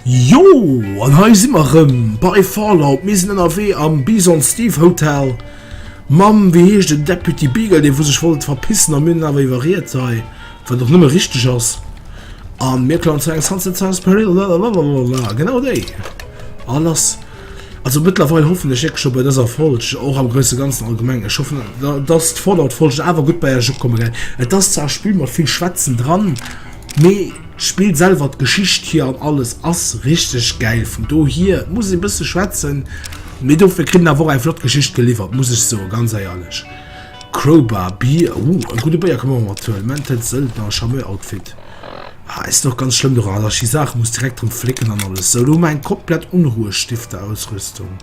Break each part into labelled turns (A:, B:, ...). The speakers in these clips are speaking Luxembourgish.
A: Jo an hei si mar rëm bei Fallout mir sinn ënnerwee am Bison Steve Hotel. Mam wéi heescht den Deputy Beagle, dee wou sech wollt verpissen a mir hunn en awer iwwerriet hei, wat och nëmme richteg ass. A mir klauen zu engem Sunset Sails Peril, lalalala, genau déi. A lass. Also mëttlerweil hoffen ech wierklech scho bei dëser Folg, och am grouse ganzen allgemeng, ech hoffen, dass d'Fallout-Folge awer gutt bei iech ukomme wäert. Et ass zwar e Spill mat vill Schwätzen dran, mee d'Spill selwer, d'Geschicht hir an alles ass richteg gäil. Vun dohier, et muss ee bësse schwätzen, mee dofir kritt een awer och eng flott Geschicht geliwwert, muss ech soen, ganz eierlech. Crowbar, Bier, uh, e gudde Béier ka mer och mat huelen. Mental Söldner, Charmeur-Outfit. Ah, et sinn och ganz schlëmm dorë allergi Saachen, muss direkt drëm flécken an alles esou. Lo hu mer eng komplett Unruhestifter Ausrüstung.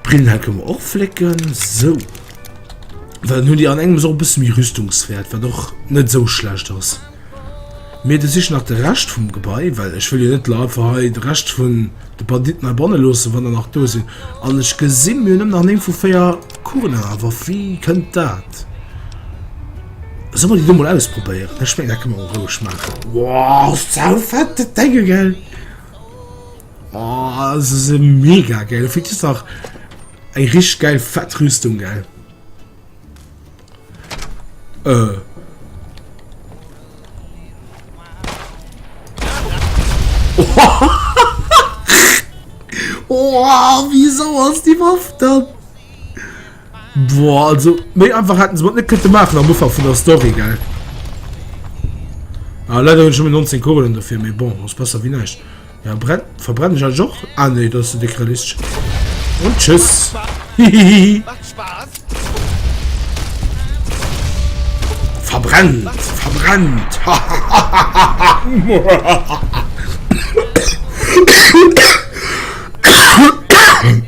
A: Brillen hei kënne mer och flécken, esou. Well dann hunn déi an engem esou e bësse méi Rüstungswäert, wat och net esou schlecht ass. Mee du sichen nach de Rescht vum Gebai, well ech wëll jo net la einfach hei de Rescht vun de Banditten hei banne loossen, wann der nach do sinn. An ech gesi mir hunn nëmmen nach néng vu véier Kuren an der Waff, wéi kënnt dat? Solle mer déi do mol auspropéieren? Ech mengen, dat kënne mer och roueg maachen. Wow, saufett, dat Denge, gell? Oh, se si mega geil. Fir Di Sach eng rich geil fett Rüstung, gell? Äh. Oh, wieso ass die Waff dann? Boah, also méi einfach hätten se mat net kënnte maachen am Ufang vun der Story, gell? Ah, leider hunn ech nëmmen 19 Kugelen dofir, mee bon, ass besser wéi näischt. Ja, brennt, verbrenne ich eigentlich och? Ah nee, dat ass de déck realistesch. Und tschüss. Hihihi. Verbrennt, verbrennt.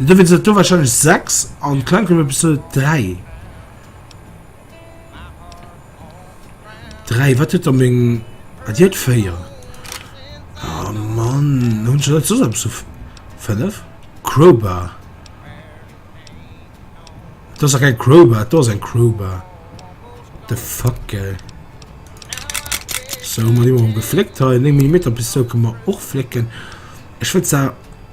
A: Da wier dat do wahrscheinlech 6 an d'Klengklubb Episode 3. 3, wat huet da meng. Ah, déi huet 4. Ah, Mann, hunn ech net soss eppes of 5? Crowbar. Dat ass keng Crowbar, do ass eng Crowbar. The fuck, ey. So, hu mer déi mol gefléckt hei. 9 Millimeter Pistol kënne mer och flécken. Ech wëll zwar.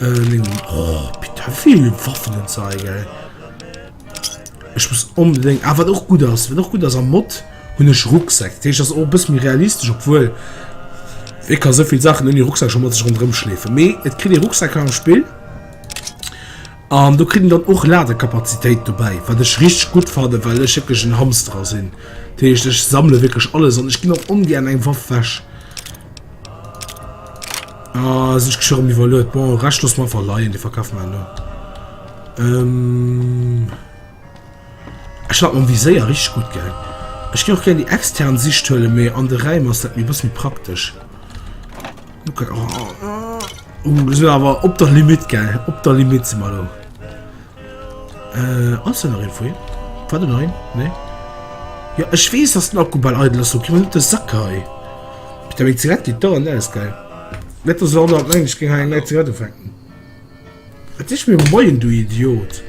A: Lynn, oh putain vill Waffen und sei gell. Ech muss onbedéng, a wat och gutt ass, wat och gutt ass am Mod hunn ech Rucksäck, dat heescht ass och e bësse méi realistesch, obwuel ee ka souvill Saachen ouni Rucksäck scho mat sech ronderëm schleefen. Mee et kritt ee Rucksäcker am Spill an do kritt een dann och Ladekapazitéit dobäi, wat ech richteg gutt fanne well ech wierklech en Hamsterer sinn, dat heescht ech sammele wierklech alles an ech ginn och ongären eng Waff wech. Ah, sech geschirr um iwwerluet. Bon, Recht loss mal verleihen, die verkaufen wir nur. Ähm... Ich hab um Visier richtig gut gell. Ich gehe auch gerne die externe Sicht höhle mehr an der Reihe muss das mir bisschen praktisch. Okay. Oh, oh. Uh, wir sind aber ob der Limit gell. Ob der Limit sind wir da. Äh, ass da nach een vu him? War den hei? Nee. Ja, ech weess, dass den Akku bal eidel ass, okay, wat de Sack hei? Ich da meng Zigarette geht da, ne, ist geil. Net dass aner meng, ich ging hei eng nei Zigarette fänken. Et ist mir moien, du Idiot.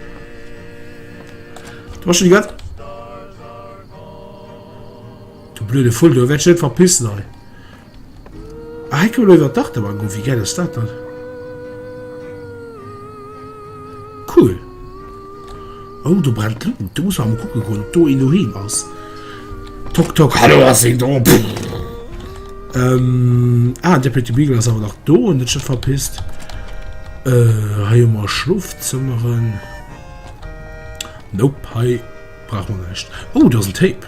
A: Du hast schon die ganze... Du blöde Full, du wirst schon verpissen, ey. Ah, hei kënne mer iwwer d'Achterbahn goen. Wéi gäil ass dat dann? Cool. Oh, do brennt d'Luut. Do muss mer emol kucke goen, ob do een doheem ass. Tok, tok, hallo, ass een do? Ähm, ah, Deputy Beagle ass awer nach do an huet sech net verpisst. Äh, hei hu mer Schlofzëmmeren. Nope, hei brauche mer näischt. Oh, do ass en Tape.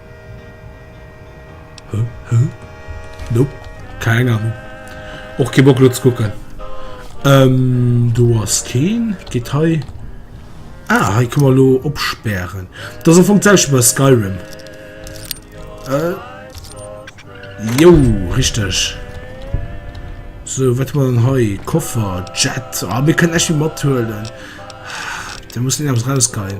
A: Nope, keng Ahnung. Och kee Bock lo ze kucken. Ähm, do ass keen. Geet hei. Ah, hei kann man lo opsperren. Das am Fong selwecht bei Skyrim. Äh. Jo, richtig. So, wat man denn hei? Koffer, Jet. Ah, mir können echt viel mathuelen. Da muss irgendwas rausgehen.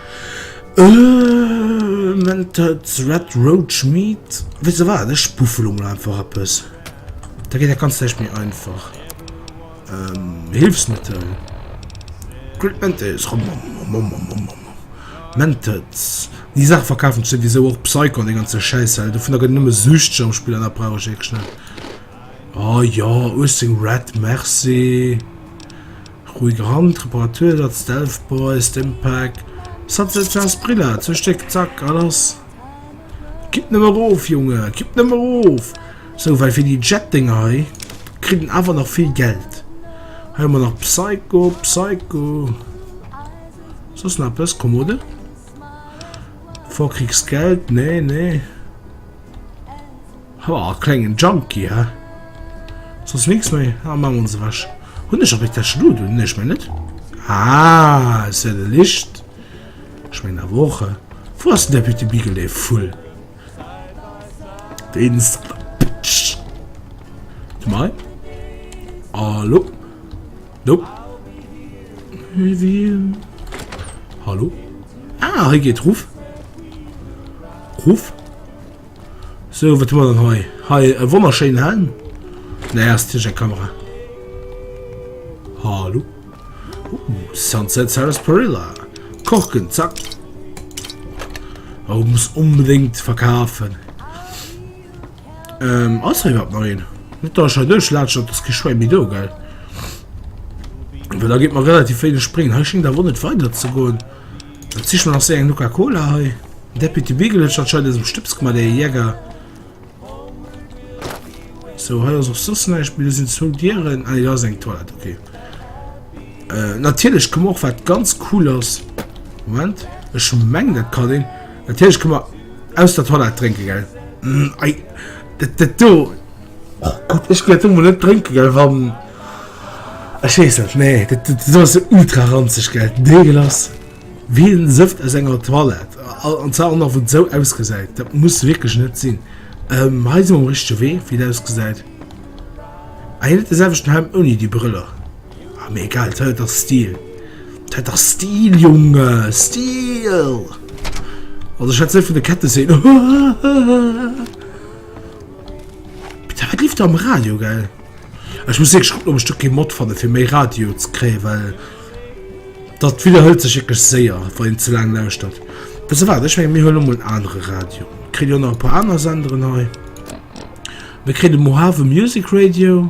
A: Mentats Red Roach Meat wéi se war ech puffel lo mol einfach eppes da geet dat ganz leicht méi einfach Hilfsmittel Mentats déi Saach verkafen souwisou och Psycho an de ganze Schäiss well dovunner gëtt nëmme süchteg am Spill an dat brauch ech wierklech net a jo 18 Red Merci. Ruhig Rand, Reparatursatz, Stealth Boy, Stimpack, Sunset Sarsaparilla, zwee Stéck, zack, a lass! Kippt nëmme erof, Junge, kippt nëmme erof! Sou, well fir déi Jet-Dénger hei kritt en awer nach vill Geld. Hei hu mer nach Psycho, Psycho. Soss nach eppes? Kommode? Vorkriegsgeld? Nee, nee. Oh, klengen Junkie, hä? Sonst nix mehr. Ah, machen wir uns weg. Hund ist aber das Schlut, und nicht mehr nicht. Ah, ist ja der Licht. Ich meine, eine Woche. Wo hast du der bitte Bigele voll? Den ist. Du mal. Hallo? Hallo? Hallo? Ah, hier geht Ruf. Ruf. So, wat hu mer dann hei? Hei e wonnerschéinen Helm. Ne, ass tiech eng Kamera. Hallo. Uh, Sunset Sarasparilla. Korken, zack. Oh, muss unbedingt verkaufen. Ähm, ass hei wat neuen? Net da schon durchlatsch, dat ass geschwei mi do, gell? Weil da geht man relativ wenig springen. Hei schingt da wo net weiter ze goen. Dat sich man nach se eng Nuka Cola hei. Deputy Beagle huet anscheinend eisem Stëps gemacht, der Jäger. So, hei ass auch sos näischt, mir sind zu Dieren. Ah, da ist eng Toilette, okay. Äh, natürlich können wir auch was ganz Cooles. Moment, ich meng, das kann den. Natürlich können wir aus der Toilette trinken, gell? Mm, ei, das, das do, Oh Gott, ech ginn dat emol net drénken, gell, wann. Ech weess net, nee, dat, dat, dat ass ultra ranzeg, gell, deegelass. Wéi en Sëft aus enger Toilette. A, an zwar och nach, wou et esou ausgesäit. Dat muss wierklech net sinn. Ähm, hei si mer um richtege Wee, wéi et ausgesäit. Ah, hien huet de selwechten Helm ouni déi Brëller. Ah, mee egal, dat huet ass Stil. Dat ass Stil, Junge, Stil! Also, ech hätt se net vun de Kette seet. Putain, wat liift do am Radio, gell? Ech muss wierklech kucken, ob ech do kee Mod fanne fir méi Radio ze kréien, well dat widderhëlt sech wierklech séier, wann een ze laang lauschtert. Wësst Der wat, ech menge mir huele mol en anere Radio. Et kritt jo nach e puer aner Senderen hei. Mir kréien de Mohave Music Radio.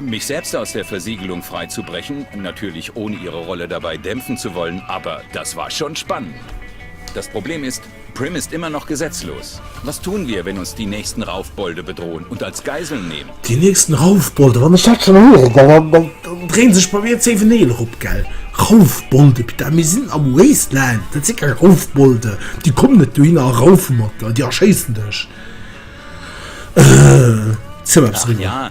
A: Mich selbst aus der Versiegelung frei zu brechen, natürlich ohne ihre Rolle dabei dämpfen zu wollen, aber das war schon spannend! Das Problem ist, Prim ist immer noch gesetzlos. Was tun wir, wenn uns die nächsten Raufbolde bedrohen und als Geiseln nehmen? Déi nächsten Raufbolde, wann ech dat schonn héieren, dann dréin sech bei mir zéi Vennéilen erop, gell? Raufbolde, Pita, mir sinn am Wasteland, dat si keng Raufbolde, déi kommen net dohinner a raufe mat der, déi erschéissen dech. Ëh, ziel mol eppes eriwwer.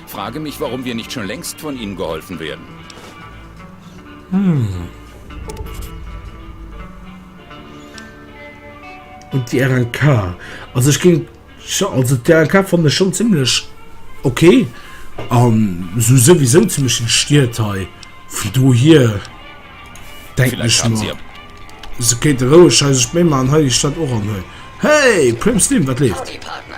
A: Frage mich warum wir nicht schon längst von ihnen geholfen werden. Und die RNK. Also ich ging also die RNK fand ich schon ziemlich okay an so sowieso ziemlich den Stiert hei von do hier denke ich Vielleicht haben sie mal. aber Se kéinte roueg hei sech méi man, hei déi Stadt och an hei. Hey, Prim Slim, wat leeft? Howdy Partner.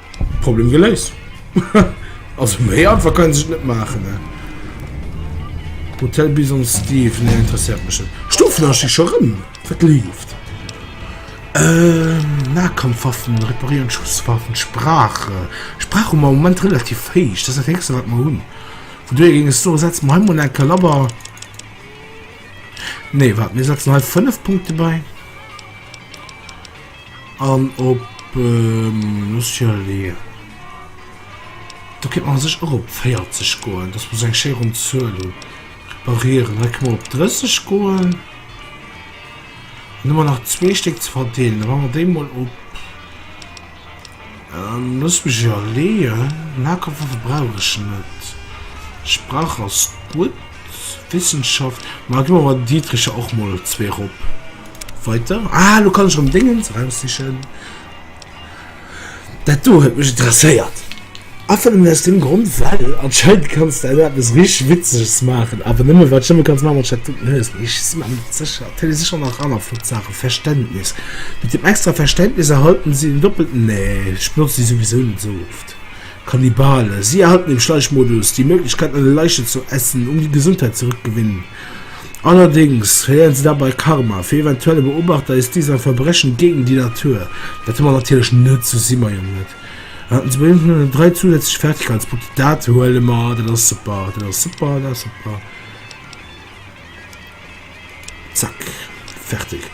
A: Problem geléist. Also méi einfach kann sech net maachen ne. Hotel Bison Steve ne interessiert mech net. Stufen ass scho rëm wat leeft. Äh Nahkampfwaffen reparieren Schusswaffen Sprache Sprach hu mer am Moment relativ héich, dat ass dat héchste wat mer hunn. Vu dohier géing ech soe setze mer hei mol eng Kalaber. Nee wat mir setzen hei 5 Punkte bei. An op Australie, do kéint man a sech och op 40 goen, dass mer esou eng schéi ronn Zuel hu reparieren. Hei kënne mer op 30 goen. Dann hu mer nach zwee Stéck ze verdeelen, da maache mer déi mol op. Looss mech iwwerleeën, Lagerwaffe brauch ech net, Sprach ass gutt, Wissenschaft, ma gi mer bei den Didricher och mol zwee rop. Weiter. Ah, elo kann ech erëm Déngens eraussichen, dat do huet mech interesséiert. Einfach nëmmen aus deem Grond, well anscheinend kanns de aus eppes richteg Witzeges maachen, awer nëmme wat Jëmme kanns maachen, mat Statuten hues. Mee ech si mer net sécher, et hätt ee sécher nach aner flott Saachen. Verständnis, Mat deem extra Verständnis erhalten si en doppelten, nee, ech benotze déi souwisou net esou oft. Kannibale, Si erhalten im Schleichmodus die Möglichkeit, eine Leiche zu essen, um die Gesundheit zurückgewinnen. Allerdéngs verléieren si dabei Karma. Fir eventuelle Beobachter ist dies ein Verbrechen gegen die Natur. Dat hu mer natierlech net, sou si mer jo net. Dräi zousätzlech Fertigkeitspunkten, dat huele mer, dat ass super, dat ass super, dat ass super. Zack, fertig.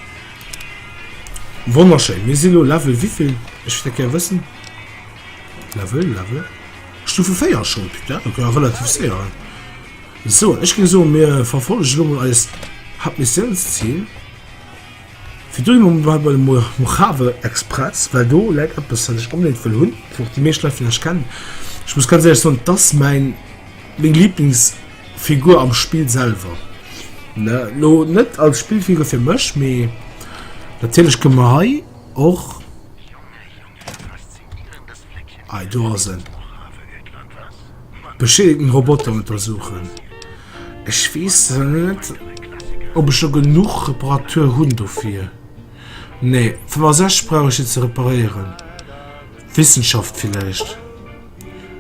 A: Wonnerschéi, mir si lo Level wéivill? Ech wéilt dat gär wëssen. Level, Level. Stufe 4 schon, putain, dat war relativ séier. So, ech géing soen, mir verfollegen lo mol eist Hauptmissionsziel. Fir do hu mer bei de Mojave Express, well do läit eppes, wat ech onbedéngt wëll hunn, wou och déi meescht Leit villäicht kennen. Ech muss ganz éierlech soen, et ass mäin, meng Liiblingsfigur am Spill selwer. Mä elo net als Spillfigur fir mech, mee natierlech kënne mer hei och. Ei do ass en. Beschädigten Roboter untersuchen. Ech wees net ob ech scho genuch Reparatur hunn dofir. Nee 65 brauch ech se ze reparéieren. Wissenschaft villäicht.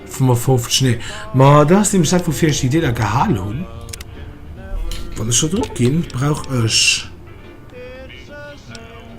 A: 55 nee. Ma dat ass nämlech dat woufir ech déi Deeler gehal hunn. Wann ech do drop ginn brauch ech.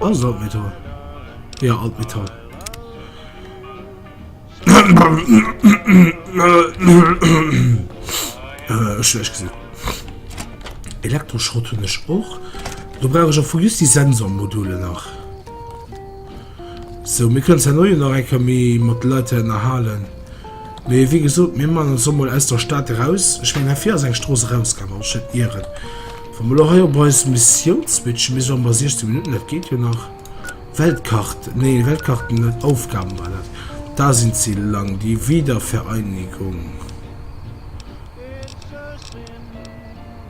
A: Alles alt Metall. Ja, alt Metall. äh, schlecht gesehen. Elektroschrott hun ich auch. Du brauch ich auch vu just die Sensormodule nach. Sou, mir kënnen zwar elo jo nach eng Kéier méi mat de Leit hei ënnerhalen, mee wéi gesot, mir man ons emol aus der Stad eraus. Ech mengen, hei vir ass eng Strooss erausgaangen, wann ech net ieren. Wa mer elo hei op eis Missioun switchen, mir si am bei 16 Minutten, dat geet jo nach. Weltkart, nee, Weltkarten net, Aufgaben war dat. Da sinn ze laang, die Wiedervereinigung.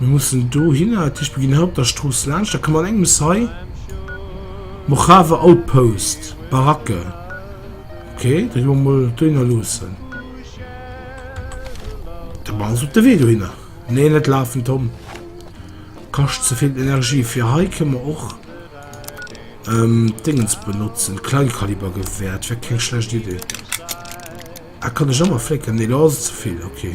A: Mir mussen dohinner, dat heescht mir ginn hei op der Strooss laanscht, da komme mer an engem hei. Mojave Outpost, Baracke. Okay, da gi mer mol dohinner loossen. Da machen se op de Wee dohinner. Nee, net lafen, Tom. Kascht ze vill Energie. Fir hei kënne mer och ähm, Dingens benotzen. Kleinkalibergewehr, dat wär keng schlecht Idee. Ah, kann ech ëmmer flécken? Nee, do ass et ze vill, okay.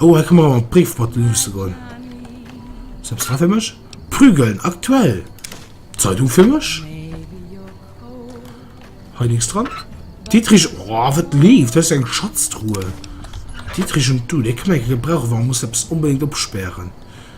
A: Oh, hei kënne mer awer d'Bréif mat luusse goen. Ass eppes dra fir mech? Prügeln, aktuell! Zeitung fir mech? Hei nix dran. Dietrich, oh, wat leeft? Das ist eng Schatztruhe. Dietrich und du, dee kënne mer gebrauchen, wa mer musse eppes onbedéngt opspären.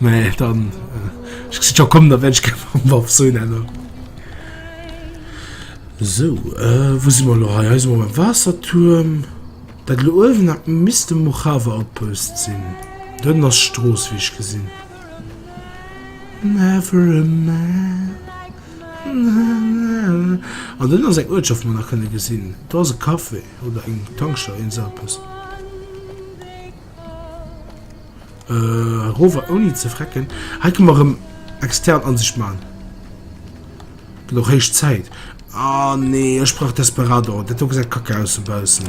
A: Nee, dann. Äh, ich schon kommen, da werde ich keinen Waff so nennen. So, äh, wo sind wir noch? Hier sind wir beim Wasserturm. Da oben hat Mr. Mojave Outpost sind. Dann das Stroß, wie ich gesehen. Never a man. An den ass eng Uertschaft man nach kënne gesinn. Da se Kaffee oder eng Tankstelle en Sapes. Äh, rover ouni ze frecken. Hei kann man rem extern Ansicht machen. Gët och héich Zäit. Ah, nee, ech brauch Desperado. Dat do gesäit kacke aus so baussen.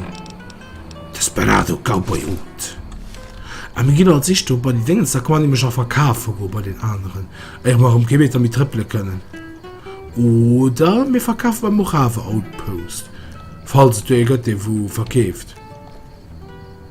A: Desperado Cowboy Oud. Ah, mir gin alt sich do bei die Dingens, da kann man nämlech auch verkafe go bei den aneren. Éier mer rem kee Meter méi trëppele kënnen. Oder mir verkafe beim Morave Outpost. Falls et do ee gëtt, dee wou verkeeft.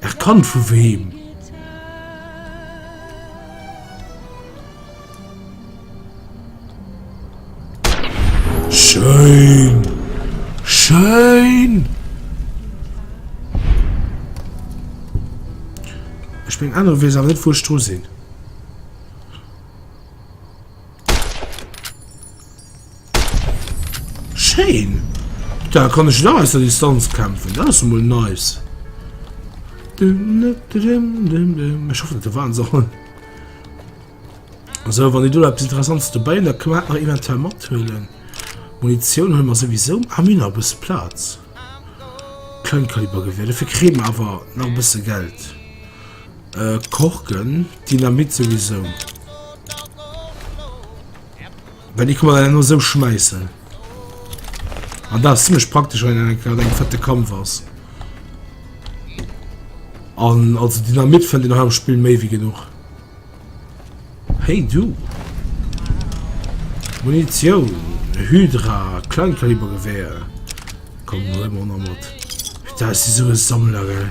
A: Ech kann vu wem? Schéin! Schéin! Ech meng aner wees awer net wou ech dru sinn. Schéin! Da kann ech nach aus der Distanz kämpfen. Dat ass emol nice. Ech hoffen, dat waren Sachen. Also, wann du etwas Interessantes dabei da können wir eventuell mithöhlen. Munition haben wir sowieso. Ah, wir haben ein bisschen Platz. Kleinkalibergewehr. Dafür kriegen wir aber noch ein bisschen Geld. Äh, Korken. Dynamit sowieso. Well déi kann en no esou schmeissen. An ah, dat ass ziemlech praktesch wann en grad eng fette Kampf ass. An also Dynamit fënnt den am Spiel méi wie genug. Hey du! Munition, Hydra, Kleinkalibergewehr. Komm, hol mal noch mit. Da ist so ein Sammler, gell?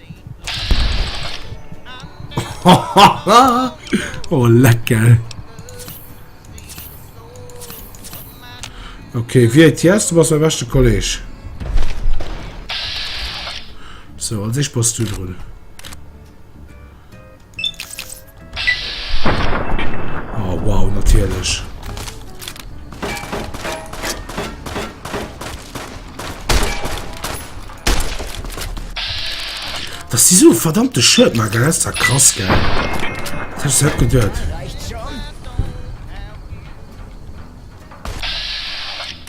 A: oh lecker okay wie jetzt du was der beste kollege so als ich post du drin Oh, wow, natierlech. Dass die so verdammte Shirt mal gelässt hat, krass, gell? Das hab ich selbst gedacht.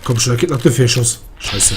A: Komm schon, da geht nach der Schuss. Scheiße.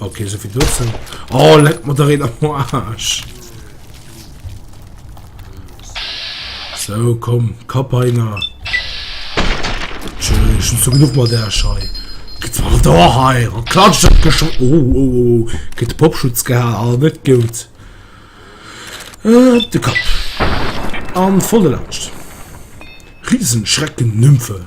A: Ok sou fir dozou. Oh leck mat der Reen am Arsch. So komm Kapp einer. Schön so genug mal der Schei. Gëtt war da hei an klatscht dat gesch oh, oh, oh, oh. Gëtt Popschutz geha a net gout. Äh, de Kapp. An volle lauscht. Riesenschrecken Nymphe.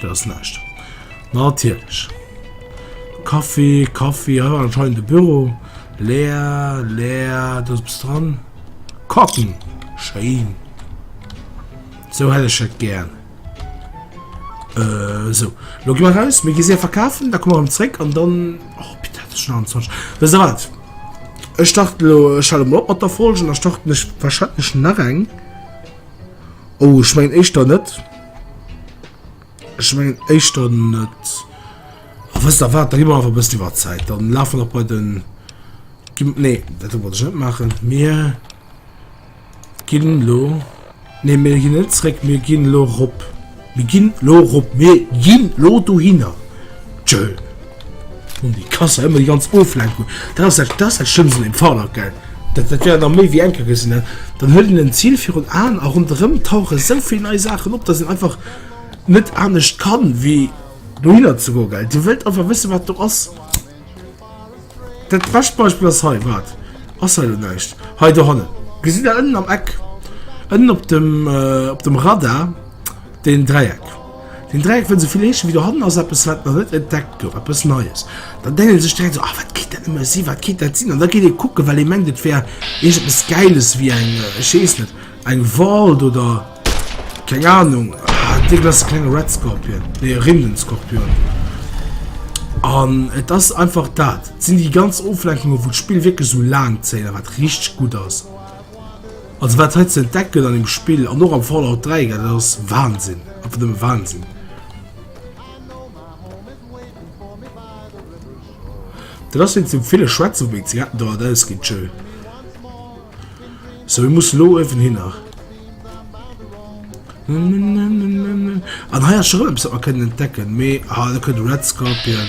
A: Dat ass näischt. Natierlech. Kaffi, Kaffi. Hei war anscheinend de Büro. Leer, leer. Dat ass bis dran. Kocken. Schéin. So hätt ech et gär. Äh, so. Lo gi raus. Mir gi se verkafen. Da komme am Zréck an dann. Oh, bitte hat ech an Zwansch. We se wat? Ech starte lo Schall op mat der Folgen. Da starte ech wahrscheinlech nach eng. Oh, ich mein, éischter net. Ech mengen éischter net. Oh, wësst der wat, da gi mer einfach e bëssi iwwer Zäit. Dann lafe mer nach bei den... Gim nee, dat wollt ech net maachen. Mir ginn lo... Nee, mir ginn net zréck, mir ginn lo rop. Mir ginn lo rop, mir ginn lo dohinner. Tschö. Hun déi Kasser ëmmer déi ganz oflaang hu dat ass dat ass dat schlëmmst an deem Fall ok dat dat wär nach méi wéi enker gesinn dat dann huet en en Zil virun Aen a ronderëm tauche sou vill nei Saachen op datt een einfach net anescht kann wéi dohinner ze goe gell dir wëllt einfach wësse wat do ass dat bescht Beispill ass hei wat ass hei elo näischt hei dohannen gesitt der ënnen am Eck ënnen op dem op dem Radar deen Dräieck. Den Dräieck wëll souvill heeschen, wéi do hannen ass eppes, wat nach net entdeckt gouf, eppes Neies. Da denkt ee sech direkt esou, ah, wat kéint dat nëmme sinn, wat kéint dat sinn? An da geet ee kucken, well ee mengt, et wär iergendepes Gäiles, wéi eng, ech weess net, eng Vault oder keng Anung. Ah, dee gëtt ass e klenge Red Scorpion, nee, e Rindenskorpion. An et ass einfach dat. Et sinn déi ganz Oflenkungen, wou d'Spill wierklech esou laang zéien, wat richteg gutt ass. Also wat hei ze entdecken an dem Spill an och am Fallout 3 gëtt, dat ass Wahnsinn, einfach nëmme Wahnsinn. Dat ass wéinst dem ville Schwätzen, wou eng Zigaretten dauert ausgeet, chill. So, wir mussen lo even hin nach. An hei ass schon etwas, was wir können entdecken, mais, ah, da kommt Red Scorpion.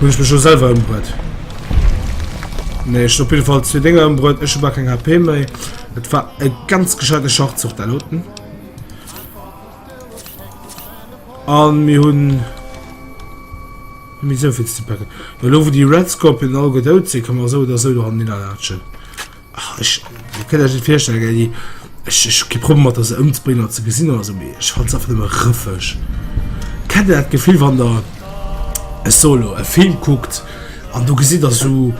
A: Hun ech mech jo selwer ëmbruet. Nee, ech op jeden Fall zwee Dinger ëmbruet. Ech war keng HP méi. Et war e ganz gescheite Schachzug der Loten. An mir hunn mir soviel ze packen. Lo wo die Red Scorpion all gedout se kann man so oder so an den Latschen. Ech kënnt Iech net virstellen, gell, déi, ech, ech hu kee Problem mat der se ëmzebréngen an ze gesinn oder esou, mee ech fannen se einfach nëmme rëffeg. Kennt Dir dat Gefill, wann Der e Solo, e Film kuckt an do gesitt Der esou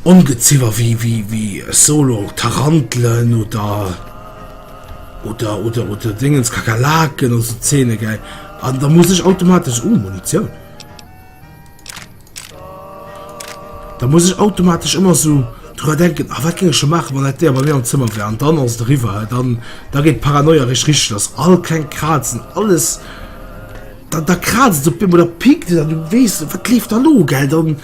A: Ongeziwer wéi, wéi, wéi e Solo Tarantelen oder, oder, oder, oder Déngens Kakerlaken an esou Zeene, gell, an da muss ech automatesch, Uh, Munitioun! Da muss ech automatesch ëmmer sou dra denken, a ah, wat ging ech scho maachen, wann dat Déier bei mir am Zëmmer wär, an dann ass et eriwwer. Dann da geet d'Paranoia rich richteg lass. All kleng Krazen, alles da, da krazt op deem oder pikt et an du weess net, wat leeft da lo, gell? Dann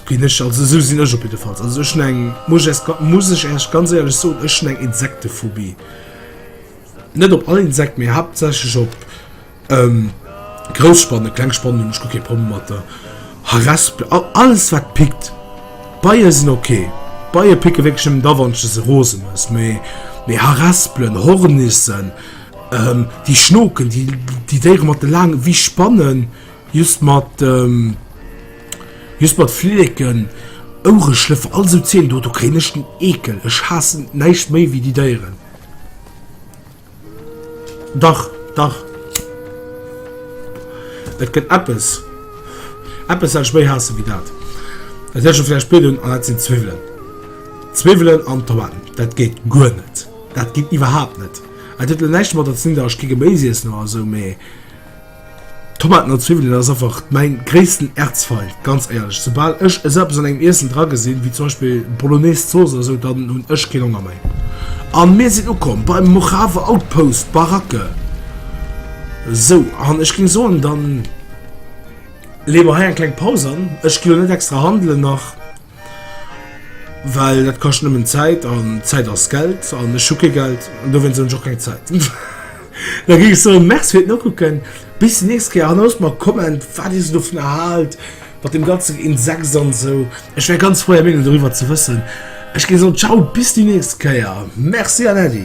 A: ginn ech also sou sinn ech op jiddefalls. Also ech eng muss ech, muss ech ehrlech ganz ehrlech soen, ech eng Insektephobie. Net op all Insekt, mee haaptsächlech op. Grouss Spanne, kleng Spanne hunn ech guer kee Problem mat der Harespel. Alles wat pickt, Beie sinn ok, Beie picke wierklech nëmmen da wann de se rose muss, mee mee Harespelen, Hornissen, déi schnoken, déi déi Déiere mat de laange wéi Spannen, just mat just mat Fliddeken, Ouereschlëffer, all esou Zeeën do do kréien ech den Eekel, ech haassen näischt méi wéi déi Déieren. Dach, dach. Et gëtt eppes. Eppes, wat ech méi haasse wéi dat. Et hëlt scho vläicht Bild un, an dat sinn d'Zwiwwelen. D'Zwiwwelen an d'Tomaten, dat geet guer net. Dat geet iwwerhaapt net. Dat huet elo näischt domadder ze dinn, datt ech kee Geméis iessen oder esou, mee Tomaten an Zwiwwelen ass einfach mein gréissten Erzfeind, ganz éierlech. Soubal ech esou eppes an engem Iessen dra gesinn, wéi zum Beispill Bolognese Zooss oder esou, dann hunn ech keen Honger méi. An mir sinn ukomm beim Mojave Outpost, Baracke. Sou, an ech géing soen, dann leeë mer hei eng kleng Paus an. Ech ginn elo net extra handelen nach. Well dat kascht nëmmen Zäit, an Zäit ass Geld, an ech hu kee Geld, an dowéinst hunn ech och keng Zäit. Da géif ech soen, Merci fir d'Nokucken, bis déi nächst Kéier, an loosst mer e Comment, wat Dir esou dovunner haalt, mat deem ganzen Insex an esou. Ech wär ganz frou, Är Meenung doriwwer ze wëssen. Ech géif soen, Ciao, bis déi nächst Kéier. Merci an Äddi.